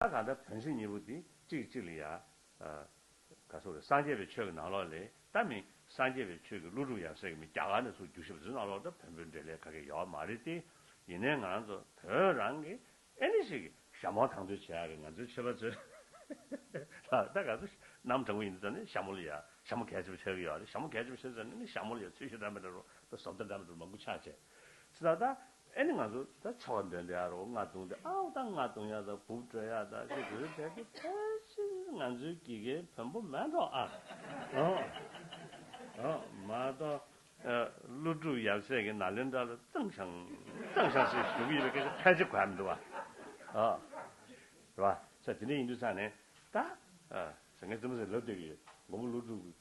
ད་གང་ལྟར་བོན་སྲིད་གཉིས་པོ་འདི་གཅིག་གཅིག་ལ་ཡ། ག་གསུང་རེད་སངས་རྒྱས་པའི་ཆོས་ཀྱི་ནང་ལོགས་ལས་ད་མིན་སངས་རྒྱས་པའི་ཆོས་ཀྱི་ཀླུ་སྒྲུབ་ཡང་ཟེར་གི་མིན་རྒྱ་གར་ནས་སུ་རྒྱུ་ཞབས་བྲོའི་ནང་ལོགས་ད་བོན་པོའི་འབྲེལ་ལས་ག་གེ་ཡོའོ་མ་རེད་དེ་ཡིན་ནའི་ང་རང་ཚོ་བོད་རང་གི་ཨེ་ནི་ཞིག་ཞྭ་མོ་དང་དོད་བྱེད་ཡ་རེད་ང་ཚོའི་ཆོས་པ་ཚོས་ལགས་ད་ག་གསུང་རྣམ་དྲང་པོ་ཡིན་ད་ནི་ཞྭ་མོ་ལ་ཡ་ཞྭ་མོ་གས་ཅི་པ་བྱེད་གི་ཡོའོ་རེད་ཞྭ་མོ་གས་ཅི་པ་བྱེད་ཟེར་ནའི་ནི་ཞྭ་མོ་ལ་ཡ་ཚུལ་ཤོད་འདྲ་མི་འདྲ་རོ་ད་ཟོབ་ད་འདྲ་མི་འདྲ་རོ་མང་པོ་ཆགས་བྱས་སྲིད་ད་ད། ཨེ་ནི་ང་ཚོ་ད་ཆ་བ་འདོན་དེ་ཨ་རོ་རྔ་རྡུང་དེ་ཨ་འོ་ད་རྔ་རྡུང་ཡག་ད་སྦུབ་བྲོས་ཡག་ད་ཅེས་འབོད་བྱས་ཏེ་ཕལ་ཆེར་ང་ཚོའི་དགེ་རྒན་བོན་པོ་མེད་འགྲོ་ཨ་འོ་མ་གཏོགས། ཀླུ་སྒྲུབ་ཡབ་སྲས་ཀྱི་ནཱ་ལེནྡྲ་ལ་ཙང་ཤང་ཙང་ཤང་ཞེས་ཞུ་གི་ཡོད་པའི་སྐད་ཆ་ཕལ་ཆེར་གོ་ཡ་མི་འདུག་བ། ཨོ། རེད་བ། ས་དེ་འདྲ་ཡིན་དུས་ས་ནས་ད། ས་ངའི་བཙུན་མོ་ཟེར་ལབ་བསྡད་ཀྱི་ཡོད་མགོན་པོ་ཀླུ་སྒྲུབ་ཀྱི།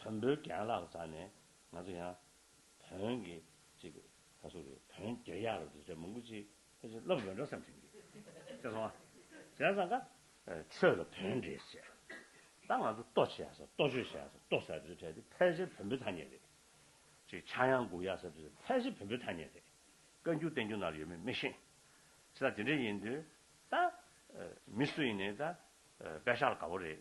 བོན་པོའི་རྒྱན་ལག་བཟའ་ནས་ང་ཚོ་ཡང་བོན་གྱི་ཅིག་ད་སུ་རེད་བོན་རྒྱལ་ཡག་རེད་ཟེར་མང་པོ་ཅིག་ཨེ་ཅིག་སློབ་ཡོད་འདྲ་བསམ་བྱུང་གི་ཟེར་སོང་ཨ་ཟེར་སང་ཀ། ཆོས་ལ་བོན་འདྲེ་བྱས་ད་ང་ཚོ་ལྟོ་བྱས་ཟ་ལྟོ་ཆོས་བྱས་ཟ་ལྟོ་ཟེར་དུས་ཕྲལ་ཏེ་ཕལ་ཆེར་བོན་པོའི་ཐ་སྙད་རེད་ཅིག་ཕྱྭ་གཡང་འགུག་ཡག་ཟེར་དུས་ཕལ་ཆེར་བོན་པོའི་ཐ་སྙད་རེད་བཀའ་འགྱུར་བསྟན་འགྱུར་ནང་ལ་ཡོད་མེད་མི་ཤེས་ད་དེ་འདྲ་ཡིན་དུས་ད་མི་སུ་ཡིན་ནས་ད་དཔལ་ཤག་ལ་དགའ་བོ་རེད་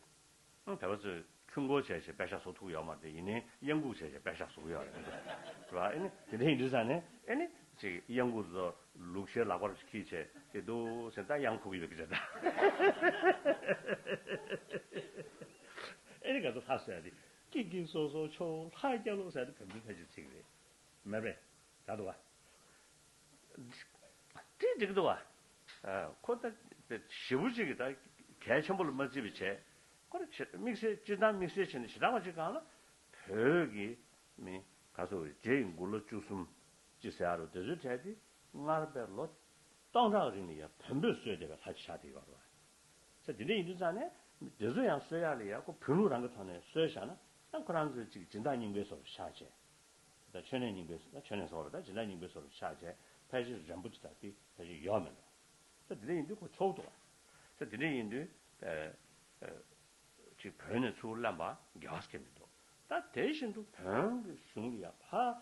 ཨང། བལ་བ་ཚོས་ཁྱུང་སྒོ་བྱས་བྱས་པད་ཤག་ཟོག་ཐུག་ཡོག་མ་རེད་ཡིན་ནའི་གཡང་འགུགས་བྱས་བྱས་པད་ཤག་ཟོག་ཡོག་རེད་འདུག་རེད་བ་ཨེ་ནི་དེ་འདྲ་ཡིན་དུས་ས་ནས་ཨེ་ནི་ཅིག་གཡང་འགུགས་ཚོ་ལུག་ཤའི་ལག་པར་བྱས་ཁིས་བྱས་ཏེ་འདུག་སེ་ད་གཡང་འཁུགས་ཡོད་རེད་ད་ཨེ་ནི་ག་ཚོད་ལྷ་སོ་ཡ་དེ་ཀིག་ཀིག་སོ་སོ་ཆོ་ལྷ་སྐྱ་ལོ་ས་ད་བོད་མི་ཕལ་ཆེར་ཅིག་རེད་མ་རེད་ད་འདུག་བ། ཏྲི་ཏྲིག་ཏུ་བ། ཁོ་ལྟ་བུ་ཞེ་བུ་གཅིག་གིས་ད་གལ་ཆེན་པོ་ལ་མ་བརྩི་བའི་ཆེད། ཁོ་རེ་ཕྱིར་དམིགས་བསལ་སྤྱིར་བཏང་དམིགས་བསལ་བྱས་ནས་ཞེ་དྲག་པ་གཅིག་གང་ལ། བོད་ཀྱི་མི། ག་ཚོ་བའི་རྗེ་ཡི་མགུར་ལོ་བཅུ་གསུམ། ཅེས་ཟེར་ཡ་རུ་དེ་ཚོའི་གྲས་དེ་སྔར་བས་ལོ། སྟོང་ཕྲག་རིང་ལ་ཡང་བོན་པོས་གསོས་བདེ་བའི་ལྷ་ཅིག་ཆགས་བསྡད་ཡོད་པ་རེད། ཚེ་འདི་འདྲ་ཡིན་དུས་ཙང་ནས། དེ་ཚོ་ཡང་གསོས་ཡ་ལ་ཡང་ཁོ་བོན་ལུགས་རང་གི་ཐོག་ནས་གསོས་བཞག་ན་ཡང་ཁོ་རང་ཚོའི་ཅིག་སྦྱིན་བདག་རྙིང་པའི་ཚོར་བ་ཤར་ཆེད། ད་ཆོས་ནས་སྙིང་པོའི་སོ། ད་ཆོས་ནས་སོ་ལ་ད་ཇི་ལ་སྙིང་པོའི་སོ་ལ་ཕྱག་བྱས། ཕལ་ཆེར་རན་པོ་ཆེ་དག་གིས་ད་ཅི་ཡོད་མེད་ལ། ད་དེ་འདྲ་ཡིན་དུས་ཁོ་ཆོག་ཏུ། ད་དེ་འདྲ་ཡིན་དུས། ཅིག་བོན་ནས་ཚུར་བླངས་པ་རྒྱལ་བ་སྐྱེ་མི་འདུག། ད་དེ་བཞིན་དུ་བོན་གྱི་གཞུང་ལ་ཡང་ཕ།